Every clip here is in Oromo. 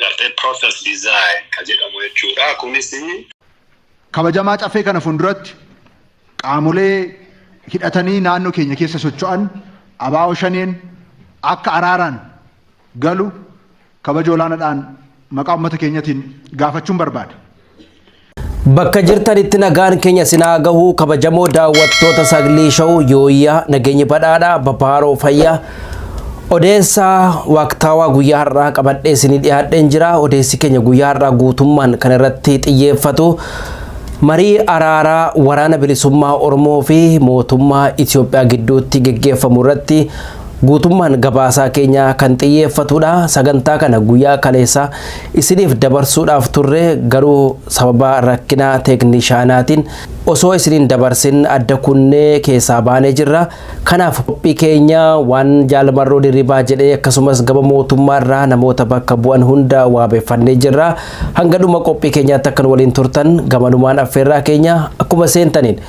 gartee process design ka jedhamu jechuudha. Kunis Kabajamaa Caffee kana funduratti qaamolee hidhatanii naannoo keenya keessa socho'an abaa'oo shaneen akka araaraan galu kabaja olaanaadhaan maqaa uummata keenyatiin gaafachuun barbaada. Bakka jirtanitti nagaan keenya isin haa gahu kabajamoo daawwattoota Saglii Show Yooyyaa nageenyi badhaadha babaaroo fayyaa odeessa waaqtaawaa guyyaa har'aa qabadhee isinii dhiyaadheen jira odeessi keenya guyyaa har'aa guutummaan kan irratti xiyyeeffatu marii araaraa waraana bilisummaa Oromoo fi mootummaa Itoophiyaa gidduutti geggeeffamu irratti guutummaan gabaasaa keenya kan xiyyeeffatudha sagantaa kana guyyaa kaleessaa isiniif dabarsuudhaaf turre garuu sababa rakkina teeknishaanaatiin osoo isiniin dabarsin adda kunnee keessaa baanee jirra. Kanaaf qophii keenya waan Jaal Marroo Dirribaa jedhee akkasumas gama mootummaa irraa namoota bakka bu'an hunda waabeffannee jirra. Hanga dhuma qophii keenyaatti akka nu waliin turtan gamanumaan affeerraa keenya akkuma seentaniin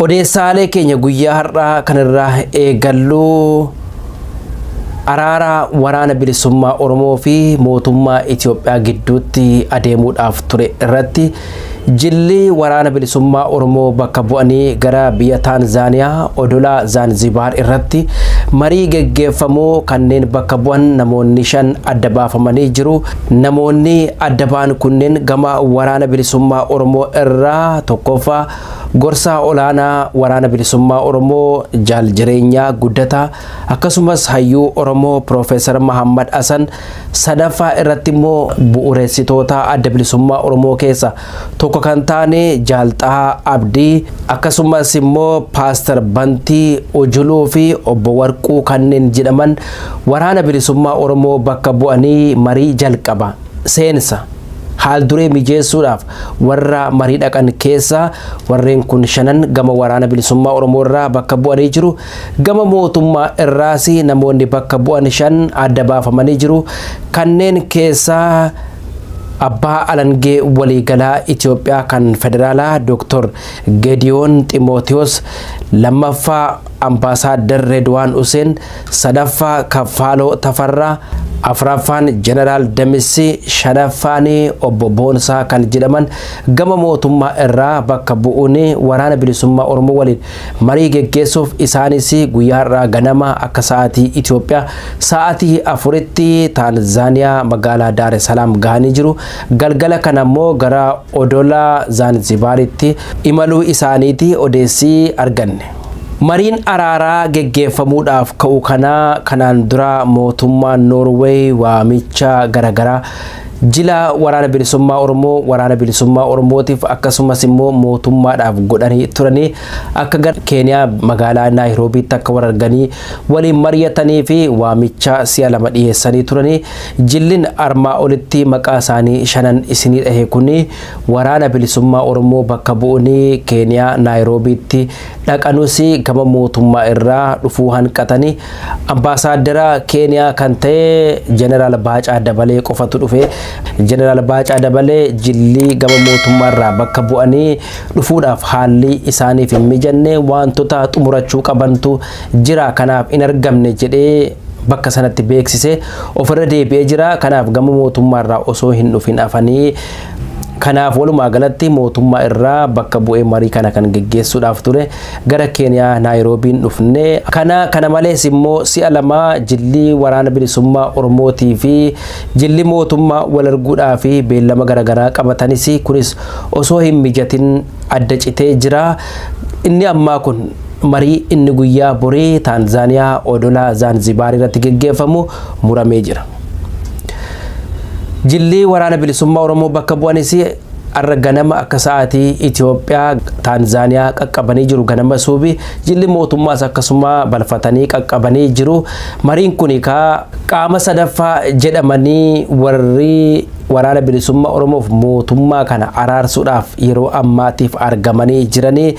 Odeessaalee keenya guyyaa har'aa kanarraa eegallu araara waraana bilisummaa Oromoo fi mootummaa Itoophiyaa gidduutti adeemuudhaaf ture irratti Jilli Waraana Bilisummaa Oromoo bakka bu'anii gara biyya Taanzaaniyaa odola Zaanzibaar irratti marii geggeeffamuu kanneen bakka bu'an namoonni shan adda baafamanii jiru. Namoonni adda ba'an kunneen gama Waraana Bilisummaa Oromoo irraa tokkoffaa Gorsaa Olaanaa Waraana Bilisummaa Oromoo Jaal Jireenyaa Guddataa akkasumas Hayyuu Oromoo Piroofeesar Mahaammad Hasan Sadaffaa irratti immoo bu'ureessitoota adda bilisummaa Oromoo keessa tokko kan taane Jaal Xahaa Abdii akkasumas immoo Paastar Bantii Ujuluu fi obbo Warquu kanneen jedhaman waraana bilisummaa Oromoo bakka bu'anii marii jalqaba seensa haal duree mijeessuudhaaf warra marii dhaqan keessa warreen kun shanan gama waraana bilisummaa Oromoo irraa bakka bu'anii jiru. Gama mootummaa irraas namoonni bakka bu'an shan adda baafamanii jiru. Kanneen keessaa Abbaa Alangee Waliigalaa Itoophiyaa kan Federaalaa Dooktor Gediyoon Ximootiyoos, lammaffaa Ambaasaaddar Redwaan Useen, sadaffaa Kaffaaloo Tafarraa, afraffaan Jeneraal Damissi, shanaffaan Obbo Boonsaa kan jedhaman gama mootummaa irraa bakka bu'uun Waraana Bilisummaa Oromoo waliin marii geggeessuuf isaanis guyyaa har'aa ganama akka sa'aatii Itoophiyaa sa'aatii afuritti Taanzaaniyaa magaalaa Daare Salaam gahanii jiru. Galgala kana immoo gara odola Zaanzibaaritti imaluu isaaniiti odeessi arganne. Mariin araaraa geggeeffamuudhaaf ka'u kanaa kanaan dura mootummaan Noorweey waamicha garagaraa Jila Waraana Bilisummaa Oromoo Waraana Bilisummaa Oromootiif akkasumas immoo mootummaadhaaf godhanii turanii akka gara Keeniyaa magaalaa Naayiroobiitti akka wal arganii waliin mari'atanii fi waamicha si'a lama dhiyeessanii turanii jillin armaa olitti maqaa isaanii shanan isinii dhahe kun Waraana Bilisummaa Oromoo bakka bu'uunii Keeniyaa Naayiroobiitti dhaqanuus gama mootummaa irraa dhufuu hanqatanii Ambaasaaddara Keeniyaa kan ta'e Jeneraal Baacaa Dabalee qofatu dhufe. Jeneraal Baacaa Dabalee jilli gama mootummaarraa bakka bu'anii dhufuudhaaf haalli isaaniif hin mijanne waantota xumurachuu qabantu jira kanaaf hin argamne jedhee bakka sanatti beeksise ofirra deebi'ee jira. Kanaaf gama mootummaarraa osoo hin dhufin hafanii kanaaf walumaa galatti mootummaa irraa bakka bu'ee marii kana kan geggeessuudhaaf ture. gara Keeniyaa Naayiroobiin dhufne. Kana kana malees immoo si'a lama jilli Waraana Bilisummaa Oromootii fi jilli mootummaa wal arguudhaaf beellama garaagaraa qabatanis kunis osoo hin mijatin adda citee jira. Inni ammaa kun marii inni guyyaa borii Taanzaaniyaa odola Zaanzibaar irratti geggeeffamu muramee jira. Jilli Waraana Bilisummaa Oromoo bakka bu'anis Har'a ganama akka sa'aatii Itoophiyaa Taanzaaniyaa qaqqabanii jiru ganama suubi jilli mootummaas akkasuma balfatanii qaqqabanii jiru. Mariin kun kaa qaama sadaffaa jedhamanii warri waraana bilisummaa Oromoof mootummaa kana araarsuudhaaf yeroo ammaatiif argamanii jiranii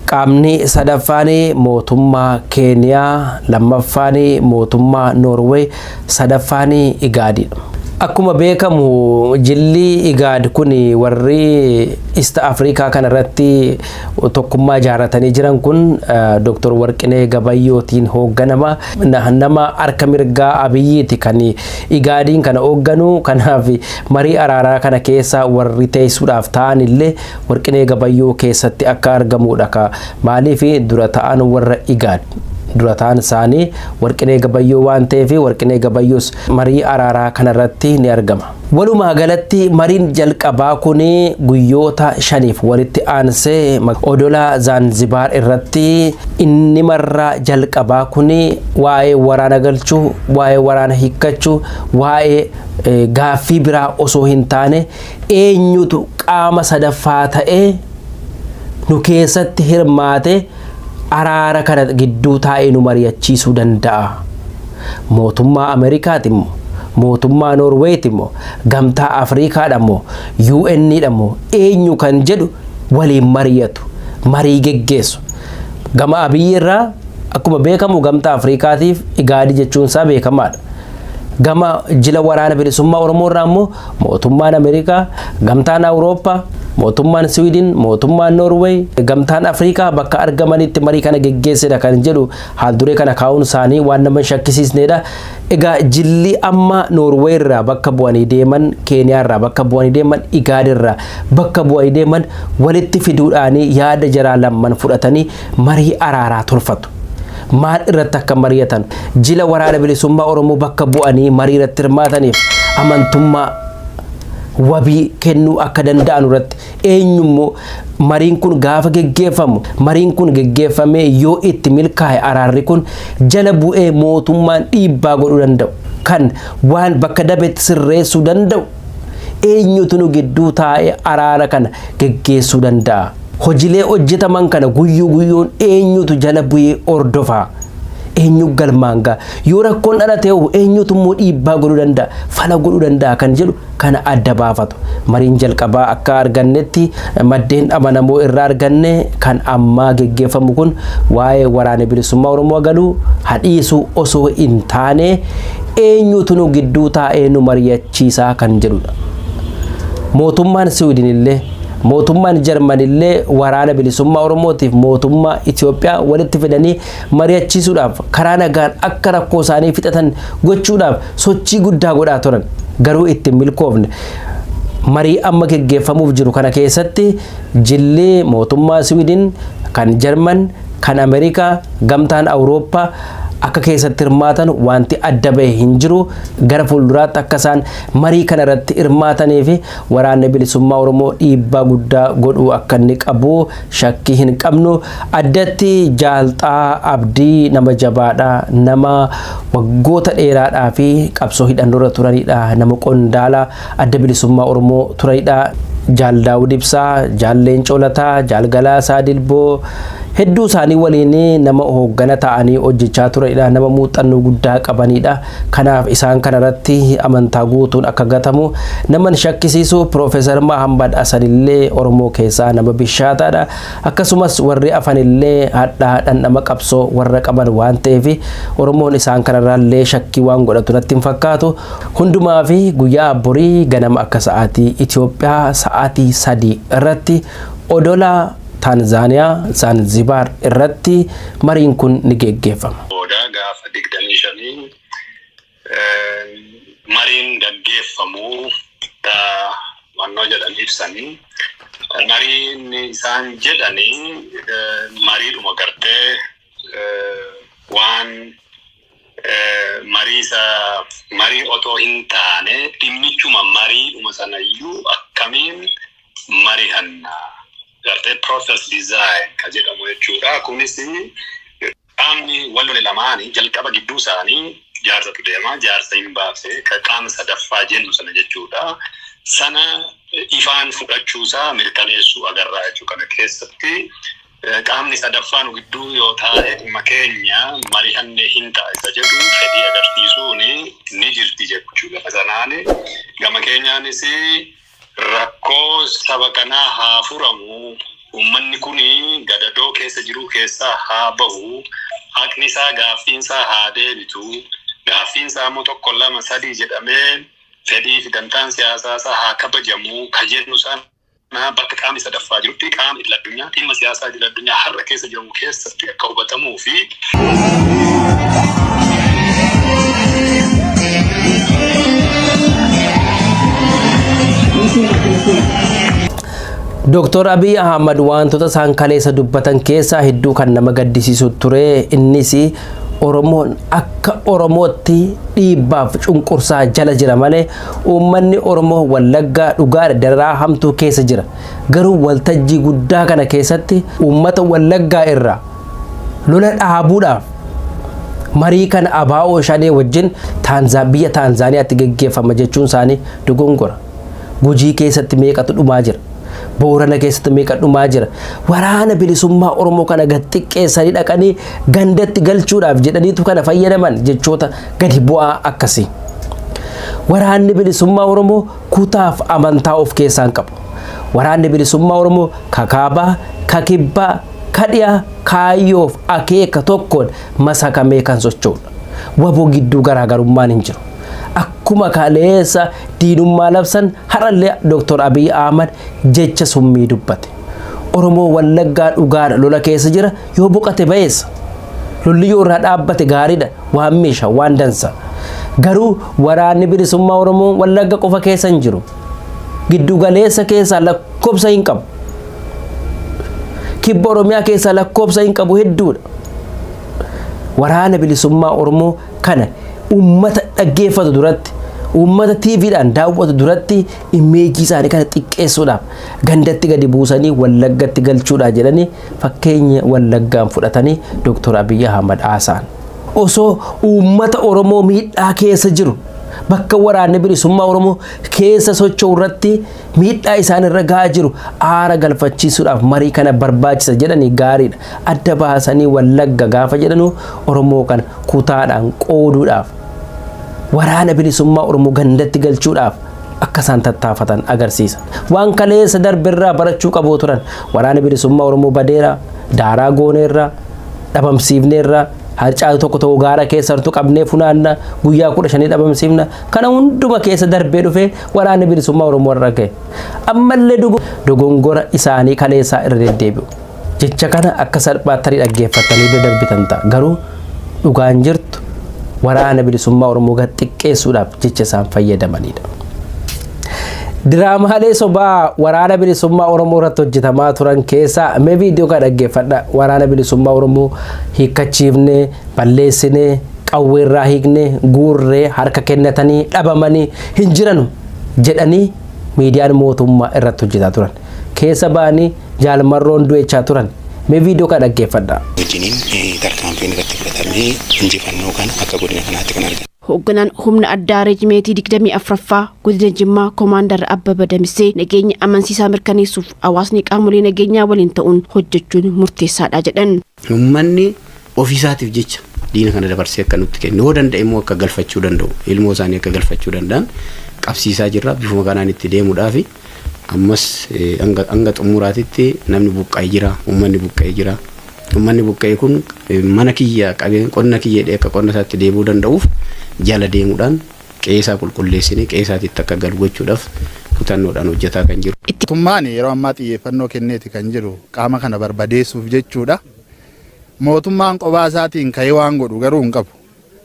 qaamni sadaffaan mootummaa Keeniyaa lammaffaan mootummaa Noorweey Sadaffaan Igaadi dha. Akkuma beekamu jilli Igaad kun warri East Africa kana irratti tokkummaa ijaaratanii jiran kun Dr. Warqinee Gabayyootiin hoogganama. Nama harka mirgaa Abiyyiiti kan Igaadiin kana hoogganu. Kanaaf marii araaraa kana keessa warri teessuudhaaf ta'an illee Warqinee Gabayyoo keessatti akka argamuudha ka maaliif dura ta'aan warra Igaad dura ta'aan isaanii Warqinee Gabayyoo waan ta'eef Warqinee Gabayyoos marii araaraa kanarratti ni argama. Walumaagalatti mariin jalqabaa kun guyyoota shaniif walitti aansee odola Zaanzibaar irratti inni marraa jalqabaa kun waa'ee waraana galchuu, waa'ee waraana hiikkachuu, waa'ee gaaffii biraa osoo hin taane Eenyutu qaama sadaffaa ta'ee nu keessatti hirmaatee araara kana gidduu taa'ee nu mari'achiisuu danda'a? Mootummaa Ameerikaati moo? Mootummaa Noorweeyti moo? Gamtaa Afriikaadha moo? UN dha moo? Eenyu kan jedhu waliin mari'atu, marii geggeessu. Gama Abiyyi irraa akkuma beekamu Gamtaa Afriikaatiif Igaadi jechuun isaa beekamaadha. Gama jila waraana bilisummaa Oromoo irraa immoo mootummaan Ameerikaa, gamtaan Awurooppaa, mootummaan Siwiidin, mootummaan Noorweey, gamtaan Afrikaa bakka argamanitti marii kana geggeessedha kan jedhu haalduree kana kaa'uun isaanii waan nama hin shakkisiisnedha. Egaa jilli amma Noorweey irraa bakka bu'anii deeman, Keeniyaa irraa bakka bu'anii deeman, Igaad irraa bakka bu'anii deeman walitti fiduudhaanii yaada jaraa lamman fudhatanii marii araaraa tolfatu. Maal irratti akka mari'atan jila waraana bilisummaa Oromoo bakka bu'anii marii irratti hirmaataniif amantummaa wabii kennuu akka danda'an irratti eenyummoo mariin kun gaafa geggeeffamu mariin kun geggeeffamee yoo itti milkaa'e araarri kun jala bu'ee mootummaan dhiibbaa godhuu danda'u kan waan bakka dabetti sirreessuu danda'u Eenyutu nu gidduu taa'ee araara kana geggeessuu danda'a? Hojilee hojjetaman kana guyyuu guyyuun eenyutu jala bu'ee hordofa? Eenyu galmaan ga'a? Yoo rakkoon dhalatee hoo eenyutu immoo dhiibbaa godhuu danda'a? Fala godhuu danda'a kan jedhu kana adda baafatu. Mariin jalqabaa akka argannetti maddeen amanamoo irraa arganne kan ammaa geggeeffamu kun waa'ee waraana bilisummaa Oromoo galuu hadhiisuu osoo hin taane eenyuutu nu gidduu taa'ee nu mari'achiisaa kan jedhudha. Mootummaan Siwiidin illee mootummaan Jarman illee waraana bilisummaa Oromootiif mootummaa Itoophiyaa walitti fidanii mari'achiisuudhaaf karaa nagaan akka rakkoo isaanii fixatan gochuudhaaf sochii guddaa godhaa turan garuu itti hin milkoofne. Marii amma geggeeffamuuf jiru kana keessatti jilli mootummaa Siwiidin kan Jarman kan Ameerikaa, Gamtaan Awurooppaa akka keessatti hirmaatan wanti adda bahe hin jiru. Gara fuulduraatti akka isaan marii kana irratti hirmaatanii fi waraanni bilisummaa Oromoo dhiibbaa guddaa godhuu akka inni qabu shakkii hin qabnu. Addatti Jaalxaa Abdii nama jabaadha. Nama waggoota dheeraadhaa fi qabsoo hidhannoorra turanidha. Nama qondaala. Adda Bilisummaa Oromoo turedhaa. Jaal Daawud Ibsaa, Jaal Leencoo Lataa, Jaal Galaasaa Dilboo hedduu isaanii waliin nama hooggana ta'anii hojjechaa turedha. Nama muuxannoo guddaa qabanidha. Kanaaf isaan kanarratti amantaa guutuun akka gatamu nama hin shakkisiisu. Piroofeesar Mahammad Hasanillee Oromoo keessaa nama bishaataadha. Akkasumas warri afanillee hadhaa dhandhama qabsoo warra qaban waan ta'eef Oromoon isaan kanarraallee shakkii waan godhatu natti hin fakkaatu. Hundumaa fi guyyaa borii ganama akka sa'aatii Itoophiyaa sa'aatii sadii irratti odola Taanzaaniyaa Zaanzibaar irratti mariin kun ni geggeeffama. booda gaafa 25 mariin gaggeeffamu dha wannoo jedhan ibsani. Mariin isaan jedhani mariidhuma gartee waan Marii isa marii otoo hintaane dhimmichuma mariidhuma sanayyuu akkamiin marihanna gartee process design ka jedhamu jechuudha. Kunis qaamni wal lole lamaani jalqaba gidduu isaanii jaarsatu deema. Jaarsa hinbaase ka qaama sadaffaa jennu sana jechuudha. Sana ifaan fudhachuusaa mirkaneessuu agarra jechuu kana keessatti. Qaamni sadaffaa nu gidduu yoo taa'e dhimma keenya marihannee hin taasisa jedhu fedhii agarsiisuun ni jirti jechu gama sanaan. Gama keenyaanis rakkoo saba kanaa haa furamu, uummanni kun gadadoo keessa jiruu keessaa haa bahu, haqni isaa gaaffiin isaa haa deebitu, gaaffiin isaa immoo tokko lama sadii jedhamee fedhii fi dantaan siyaasaa isaa haa kabajamu ka jennu sana. Maa bakka qaamni sadaffaa jirutti qaama idil addunyaa dhimma siyaasaa idil addunyaa har'a keessa jiru keessatti akka hubatamuu fi Dooktor Abiy Ahmad wantoota isaan kaleessa dubbatan keessaa hedduu kan nama gaddisiisu ture innis Oromoon akka Oromootti dhiibbaaf cunqursaa jala jira malee Uummanni Oromoo Wallaggaa dhugaadha dararaa hamtuu keessa jira. Garuu waltajjii guddaa kana keessatti uummata Wallaggaa irraa lola dhaabuudhaaf marii kana abaa'oo shanee wajjin Taanzaa- biyya Taanzaaniyaatti geggeeffama jechuun isaanii dogongora. Gujii keessatti meeqatu dhumaa jira. Boorana keessatti meeqa dhumaa jira. Waraana bilisummaa Oromoo kana gad xiqqeessanii dhaqanii gandatti galchuudhaaf jedhaniitu kana fayyadaman jechoota gadi bu'aa akkasii. Waraanni bilisummaa Oromoo kutaaf amantaa of keessaa hin qabu. Waraanni bilisummaa Oromoo kakaabaa, kakibbaa, kadhiyaa kaayyoof akeeka tokkoon masakamee kan socho'udha. Wabo gidduu garaagarummaan hin jiru. Akkuma kaleessa diinummaa labsan har'allee Dr. Abiy Ahmad jecha summii dubbate. Oromoo Wallaggaa dhugaadha lola keessa jira Yoo boqate bayeessa. Lolli yoo irraa dhaabbate gaariidha waan meesha waan dansa. Garuu waraanni bilisummaa Oromoo wallagga qofa keessa hin jiru. Giddu galeessa keessaa lakkoofsa hin qabu. Kibba Oromiyaa keessaa lakkoofsa hin qabu hedduudha. Waraana bilisummaa Oromoo kana uummata dhaggeeffatu duratti uummata TVdhaan daawwatu duratti imeejii isaanii kana xiqqeessuudhaaf gandatti gadi buusanii wallaggatti galchuudhaa jedhanii Fakkeenya Wallaggaan fudhatanii Doktor Abiy Ahmad haasa'an. Osoo uummata Oromoo miidhaa keessa jiru bakka waraanni bilisummaa Oromoo keessa socho'u irratti miidhaa isaan irra gahaa jiru aara galfachiisuudhaaf marii kana barbaachisa jedhanii gaariidha. Adda baasanii Wallagga gaafa jedhanuu Oromoo kana kutaadhaan qooduudhaaf waraana bilisummaa Oromoo gandatti galchuudhaaf akka isaan tattaafatan agarsiisa. Waan kaleessa darbe irraa barachuu qabu turan. Waraana bilisummaa Oromoo badeera, daaraa gooneerra, dhabamsiifneerra, harcaatu tokko tokko gaara keessa hartu qabnee funaanna, guyyaa kudha shanii dhabamsiifna. Kana hunduma keessa darbee dhufee waraanni bilisummaa Oromoo irra gahe. Ammallee dogongora isaanii kaleessaa irra deddeebi'u. Jecha kana akka salphaatti tarii dhaggeeffattanii bira darbitan ta'a. Garuu dhugaan jirtu Waraana Bilisummaa Oromoo gad xiqqeessuudhaaf jecha isaan fayyadamanidha. Diraamaalee sobaa Waraana Bilisummaa Oromoo irratti hojjetamaa turan keessaa mee viidiyoo kana dhaggeeffadha. Waraana Bilisummaa Oromoo hiikkachiifnee, balleessinee, qawwee irraa hiiknee, guurree, harka kennatanii, dhabamanii hin jiranu jedhanii miidiyaan mootummaa irratti hojjetaa turan. Keessa ba'anii Jaal Marroon du'echaa turan. Mee viidiyoo kana dhaggeeffadhaa. wajjiniin eh, tarkaanfiin irratti fudhatamee injifannoo kana akka godina kanaatti kan argate. Hoogganaan humna addaa reejimeetii 24ffaa godina Jimmaa Komaandar Abbaba Damissee nageenya amansiisaa mirkaneessuuf hawaasni qaamolee nageenyaa waliin ta'uun hojjechuun murteessaadha jedhan. Ummanni ofii isaatiif jecha diina kana dabarsee akka nutti kennu, yoo danda'e immoo akka galfachuu danda'u, ilmoo isaanii akka galfachuu danda'an qabsiisaa jirra. Bifuma kanaan itti deemuudhaafi. Ammas hanga hanga xumuraatitti namni buqqa'e jira, ummanni buqqa'e jira. Ummanni buqqa'e kun mana kiyya qabeen qonna kiyya jedhee akka qonna isaatti deebi'uu danda'uuf jala deemuudhaan qe'ee isaa qulqulleessinee qe'ee isaatiitti akka galu gochuudhaaf kutannoodhaan hojjetaa kan jiru. Itti Mootummaan yeroo ammaa xiyyeeffannoo kenneeti kan jiru qaama kana barbadeessuuf jechuudha. Mootummaan qophaa isaatiin ka'ee waan godhu garuu hin qabu.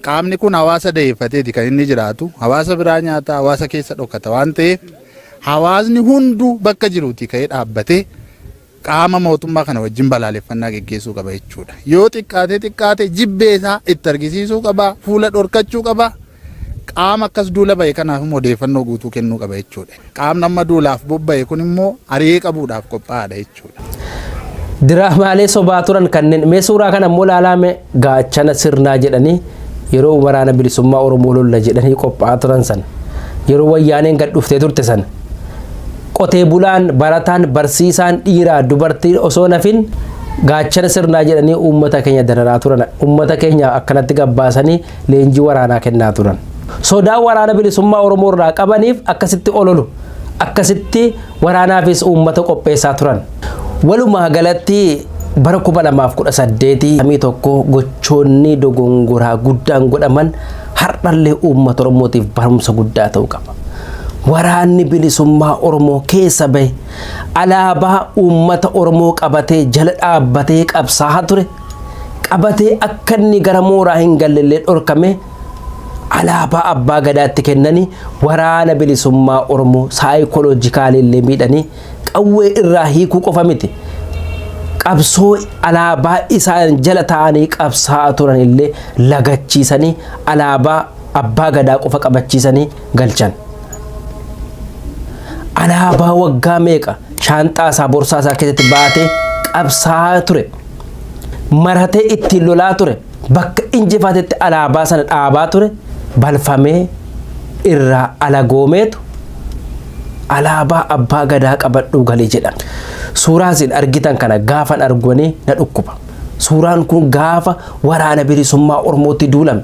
Qaamni kun hawaasa daheeffateeti kan inni jiraatu. Hawaasa biraa nyaata, hawaasa keessa dhokata waan ta'eef hawaasni hunduu bakka jiruutii ka'ee dhaabbatee qaama mootummaa kana wajjin balaaleffannaa geggeessuu qaba jechuudha. Yoo xiqqaatee xiqqaate jibbee isaa itti argisiisuu qaba, fuula dhorkachuu qaba. Qaama akkas duula ba'e kanaaf immoo odeeffannoo guutuu kennuu qaba jechuudha. Qaamni amma duulaaf bobba'e kun immoo ari'ee qabuudhaaf qophaa'aadha jechuudha. Diraamaalee sobaa turan kanneen mee suuraa kana immoo ilaalaa mee gaachana sirnaa jedhanii yeroo waraana bilisummaa Oromoo lolla jedhanii qophaa'aa turan san yeroo wayyaaneen gad dhuftee turte san Qotee bulaan, barataan, barsiisaan, dhiiraa, dubartiin osoo hin hafin gaachana sirnaa jedhanii uummata keenya dararaa turan. Uummata keenya akkanatti gabbaasanii leenjii waraanaa kennaa turan. Sodaa waraana bilisummaa Oromoo irraa qabaniif akkasitti ololu. Akkasitti waraanaafis uummata qopheessaa turan. Walumaa galatti bara 2018 tokko gochoonni dogongoraa guddaan godhaman hardhallee uummata Oromootiif barumsa guddaa ta'uu qaba. Waraanni bilisummaa Oromoo keessa bahe alaabaa uummata Oromoo qabatee jala dhaabbatee qabsaahaa ture qabatee akka inni gara mooraa hin gallellee dhorkamee alaabaa abbaa gadaatti kennanii waraana bilisummaa Oromoo saayikoloojikaalii illee miidhanii qawwee irraa hiikuu qofa miti. Qabsoo alaabaa isaan jala taa'anii qabsaa'aa turan illee lagachiisanii alaabaa abbaa gadaa qofa qabachiisanii galchan. Alaabaa waggaa meeqa shaanxaa isaa borsaa isaa keessatti baatee qabsaa'aa ture. Maratee ittiin lolaa ture. bakka injifatetti alaabaa sana dhaabaa ture balfamee irraa alagoomeetu alaabaa abbaa gadaa qabadhuu galee jedha. Suuraa isin argitan kana gaafan arguanii na dhukkuba. Suuraan kun gaafa waraana bilisummaa Oromootti duulame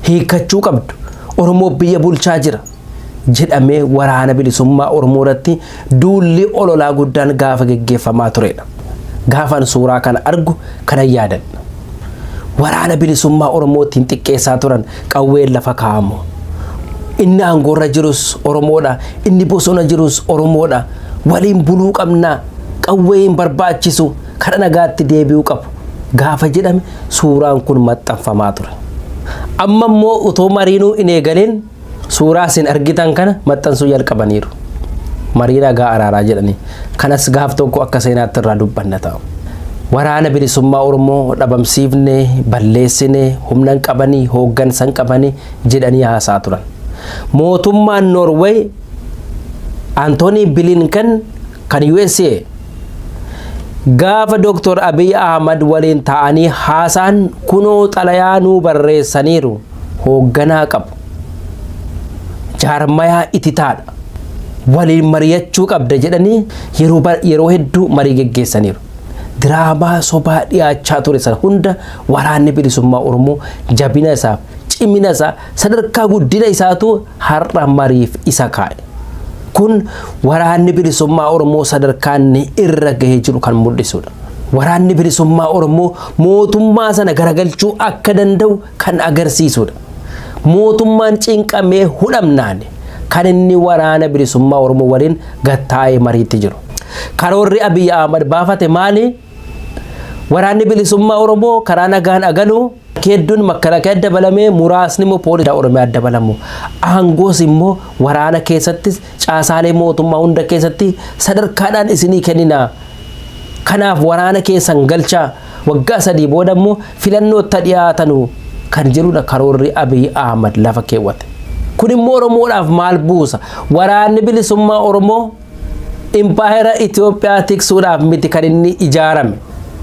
hiikkachuu qabdu. Oromoo biyya bulchaa jira. jedhamee waraana bilisummaa Oromoo irratti duulli ololaa guddaan gaafa geggeeffamaa turedha. Gaafan suuraa kana argu kana yaadadha. Waraana bilisummaa Oromoo ittiin xiqqeessaa turan qawween lafa kaa'amu. Inni aangoorra jirus Oromoodha. Inni bosona jirus Oromoodha. Waliin buluu qabna. Qawwee hin barbaachisu. Kara nagaatti deebi'uu qabu. Gaafa jedhame suuraan kun maxxanfamaa ture. Amma immoo utoo mariinuu hin eegaleen suuraa isin argitan kana maxxansuu jalqabaniiru. Marii nagaa araaraa jedhanii kanas gaaf tokko akka seenaatti irraa dubbanna ta'a. Waraana bilisummaa Oromoo dhabamsiifne, balleessine, humnan qabanii, hooggansan qabanii jedhanii haasaa turan. Mootummaan Noorweey Antoonii Bilinken kan USA gaafa Dr. Abiy Ahmad waliin ta'anii haasaan kunoo xalayaa nuu barreessaniiru. hoogganaa qabu, jaarmayaa ititaadha, waliin mari'achuu qabda jedhanii yeroo ba- yeroo hedduu marii geggeessaniiru. Diraamaa sobaa dhiyaachaa ture sana hunda waraanni bilisummaa Oromoo jabina isaaf, cimina isaa, sadarkaa guddina isaatu har'a mariif isa kaa'e. Kun waraanni bilisummaa Oromoo sadarkaa inni irra gahee jiru kan mul'isudha. Waraanni bilisummaa Oromoo mootummaa sana garagalchuu akka danda'u kan agarsiisudha. Mootummaan cinqamee hudhamnaan kan inni waraana bilisummaa Oromoo waliin gattaa'ee mariitti jiru. Karoorri Abiy Ahmad baafate maali? Waraanni bilisummaa Oromoo karaa nagaan agalu hedduun makalakee dabalamee muraasni immoo poolisii Oromiyaa dabalamu. Aangoos immoo waraana keessattis caasaalee mootummaa hunda keessatti sadarkaadhaan isinii kennina. Kanaaf waraana keessan galchaa waggaa sadii booda immoo filannootta dhiyaatanu kan jedhudha karoorri Abiy Ahmad lafa keewwate. Kun immoo Oromoodhaaf maal buusa? Waraanni bilisummaa Oromoo impaayera Itoophiyaa tiksuudhaaf miti kan inni ijaarame.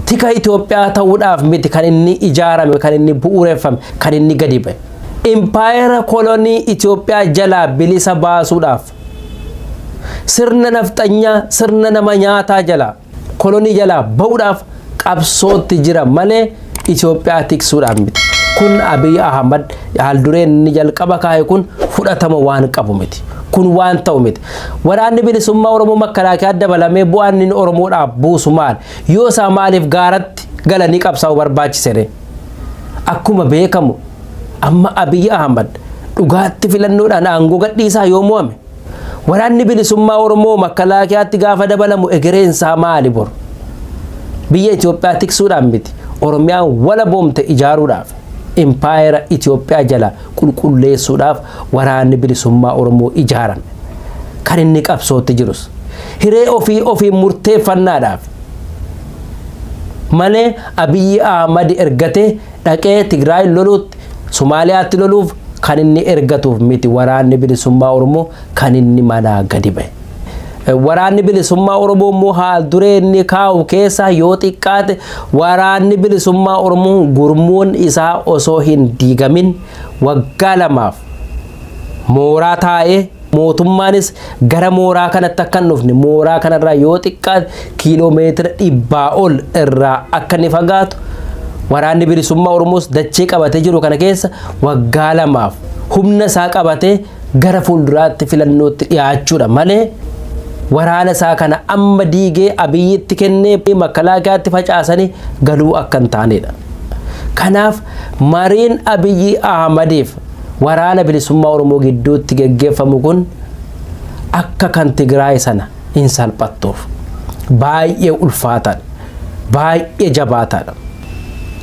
Tika Itoophiyaa ta'uudhaaf miti kan inni ijaarame, kan inni bu'uureffame, kan inni gadi ba'e. Impaayera kolonii Itoophiyaa jalaa bilisa baasuudhaaf sirna nafxanyaa, sirna nama nyaataa jalaa kolonii jalaa ba'uudhaaf qabsootti jira malee Itoophiyaa tiksuudhaan miti. Kun Abiy Ahmad haaldureen inni jalqaba kaa'e kun fudhatama waan qabu miti. Kun waan ta'u miti. Waraanni bilisummaa Oromoo makalaakaa dabalamee bu'aan inni Oromoodhaaf buusu maal? Yoo isaa maaliif gaaratti galanii qabsaa'uu barbaachisere? Akkuma beekamu amma Abiy Ahmad dhugaatti filannoodhaan aangoo gadhiisaa yoo mo'ame Waraanni bilisummaa Oromoo makkalaakiyaatti gaafa dabalamu egereen isaa maali bor? Biyya Itoophiyaa tiksuudhaan miti. Oromiyaan walaboomte ijaaruudhaaf impaayera Itoophiyaa jala qulqulleessuudhaaf waraanni bilisummaa Oromoo ijaarame. Kan inni qabsootti jirus hiree ofii ofiin murteeffannaadhaaf malee Abiyyi Ahmad ergatee dhaqee Tigraay loluutti Sumaaliyaatti loluuf kan inni ergatuuf miti waraanni bilisummaa Oromoo kan inni manaa gadi ba'e. Waraanni bilisummaa Oromoo immoo haal duree inni kaa'u keessaa yoo xiqqaate waraanni bilisummaa Oromoo gurmuun isaa osoo hin diigamin waggaa lamaaf mooraa taa'ee Mootummaanis gara mooraa kanatti akka hin dhufne mooraa kanarraa yoo xiqqaate kiiloo meetira dhibbaa ol irraa akka inni fagaatu waraanni bilisummaa Oromoos dachee qabatee jiru kana keessa waggaa lamaaf humna isaa qabatee gara fuulduraatti filannootti dhiyaachuudha malee waraana isaa kana amma diigee abiyyitti kennee makkalaakaatti facaasanii galuu akka hin taanedha. Kanaaf mariin Abiyyi Ahmadiif Waraana Bilisummaa Oromoo gidduutti geggeeffamu kun akka kan Tigraay sana hin salphattuuf. Baay'ee ulfaataadha. Baay'ee jabaataadha.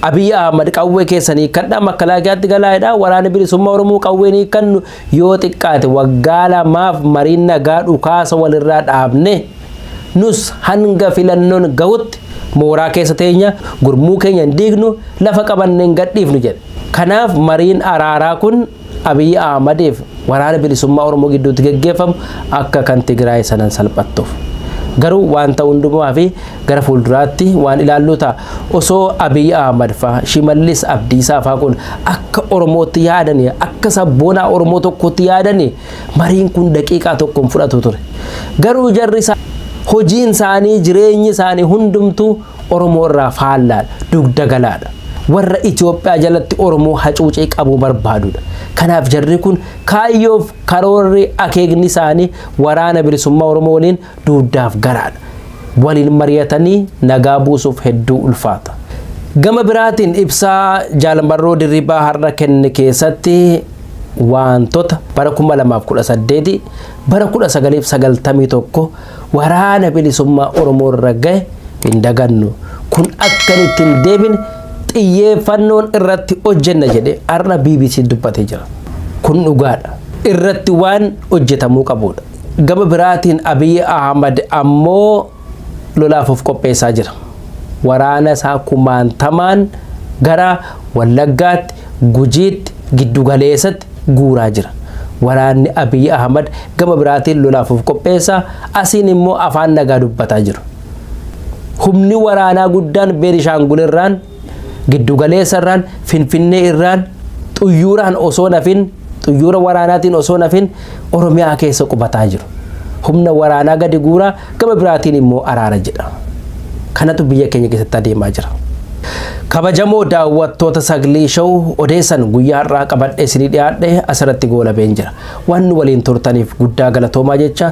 Abiy Ahmad qawwee keessan hiikkadhaa makkalaakaatti galaa jedhaa waraana bilisummaa Oromoo qawween hiikkannu yoo xiqqaate waggaa lamaaf mariin nagaa dhukaasa walirraa dhaabne Nus hanga filannoon gahutti mooraa keessa teenya, gurmuu keenya hin diignu, lafa qabanne hin gadhiifnu jedhe. Kanaaf mariin araaraa kun Abiy Ahmadiif Waraana Bilisummaa Oromoo gidduutti geggeeffamu akka kan Tigraay sanan salphattuuf. Garuu waan ta'u hundumaa fi gara fuulduraatti waan ilaalluu ta'a. Osoo Abiy Ahmad faa, Shimallis Abdiisaa faa kun akka Oromootti yaadani, akka sabboonaa Oromoo tokkootti yaadani, Mariin kun daqiiqaa tokko hin fudhatu ture. Garuu jarri isaa hojiin isaanii jireenyi isaanii hundumtuu Oromoo irraa faallaadha, dugda galaadha. Warra Itoophiyaa jalatti Oromoo hacuucee qabuu barbaadudha. Kanaaf jarri kun kaayyoof karoorri akeekni isaanii waraana bilisummaa Oromoo waliin dugdaaf garaadha. Waliin mari'atanii nagaa buusuuf hedduu ulfaata. Gama biraatiin ibsaa Jaal Marroo Dirribaa har'a kenne keessatti waantota bara 2018 bara 1991 waraana bilisummaa Oromoo irra gahe hin dagannu. Kun akka inni itti hin deebine xiyyeeffannoon irratti hojjenna jedhee har'a BBC dubbatee jira. Kun dhugaadha. Irratti waan hojjetamuu qabuudha. Gama biraatiin Abiy Ahmad ammoo lolaaf of qopheessaa jira. Waraana isaa kumaantamaan gara Wallaggaatti, Gujiitti, Giddugaleessatti guuraa jira. Waraanni Abiy Ahmad gama biraatiin lolaaf of qopheessa, asiin immoo afaan nagaa dubbataa jiru. Humni waraanaa guddaan Beenishaangul irraan Giddugaleessa irraan Finfinnee irraan xuyyuuraan osoo nafin xuyyuura waraanaatiin osoo nafin Oromiyaa keessa qubataa jiru. Humna waraanaa gadi guuraa gama biraatiin immoo araara jedha. Kanatu biyya keenya keessatti adeemaa jira. Kabajamoo daawwattoota Saglee Show odeessan guyyaa har'aa qabadhee isinii dhiyaadhe asirratti goolabeen jira. Waan nu waliin turtaniif guddaa galatoomaa jecha